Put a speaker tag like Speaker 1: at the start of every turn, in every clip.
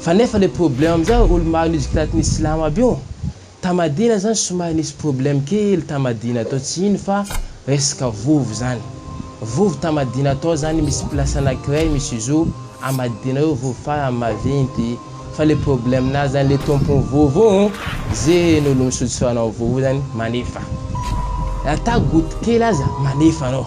Speaker 1: Fa nefa le problème amzao olo mahanizika taty ny silamo aby io ta madina zany somary nisy problème kely ta madina tao tsy ino fa resaka vovo zany vovo ta madina tao zany misy place anakiray misy izo a madina eo vovo fa raha mavinty fa le problème nazy zany le tompony vovo io ze olo misotro rano am vovo io zany manefa raha ta goty kely aza manefa anao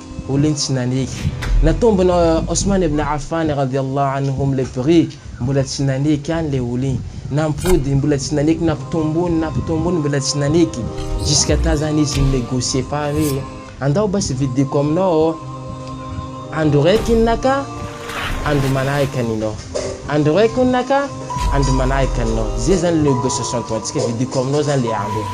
Speaker 1: Olon'ny tsy naneky. Natombona Osman ibn Affan radiyallahu anhum le prix, mbola tsy naneky any le olo iny. Nampody, mbola tsy naneky, nampitombony, nampitombony, mbola tsy naneky. Jusqu'à ta zany izy ni-negocier fa hoe andao basy vidiko aminao andro raiky iny naka andro manahaka aninao, andro raiky ony naka andro manahaka aninao. Zay zany le négociation ataontsika, vidiko aminao zany le andro iny.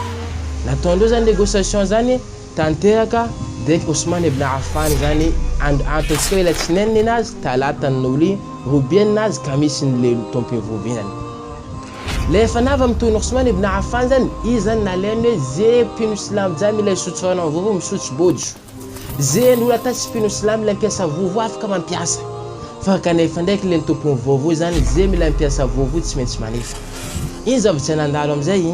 Speaker 1: Nataondreo zany négociation zany. Tanteraka Dec Ousmane Ibn Affan izany andro antokoa ilay tsinainy ny nazy, talata ny Noly, robia ny nazy, kamisy ny lelo, taom-pivovinany. Ilay efa nava mitohy ny Ousmane Ibn Affan izany, izy izany nalainy hoe ze mpino silamo jiaby ilay misotro rano amin'ny vovo, misotro bojo. Ze ny olona tany tsy mpino silamo ilay mpiasa vovo afaka mampiasa. Fa kanefa ndraiky ilay ny tompon'ny vovo izany ze mila mpiasa vovo tsy maintsy manefa. Iny zava-tsy nandalo amin'izay.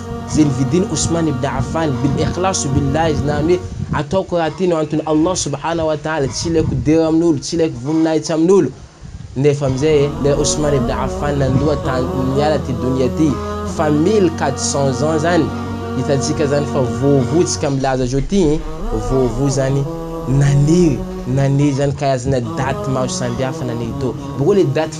Speaker 1: Izay novidin'i Ousmane ibn Affan bil ikhlas ou bil lajj, na ny hoe ataoko raha tianao anton'i Allah subhanahu wa ta'ala, tsy ilaiko dera amin'olo, tsy ilaiko voninahitsy amin'olo. Nefa amin'izay e, ilay Ousmane ibn Affan nandoa tany niala ty donia ty fa mille quatre cents ans zany, hitantsika zany fa vovo tsika milaza zao ty e, vovo zany naniry, naniry zany karazana date maro sambihafa naniry teo, boko le date.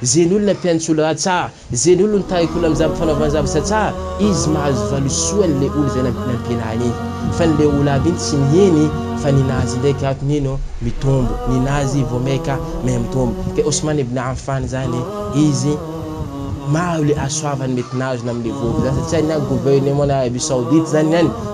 Speaker 1: Ze ny olona mpihaino tsy olo ratsà, ze ny olo ny tariko olo amzava fanaovany zavatra tsà izy mahazo valisoa ny le olo zay nampianahiny iny fa ny le olo aby iny tsy miheny fa ny nazy ndray ka ato mino mitombo ny nazy vo may ka may mitombo ka Osman ibn Affan zany izy maro le asoavany mety nazo namle vovo zany satria ny any gouvernement na Arabie Saoudite zany ny any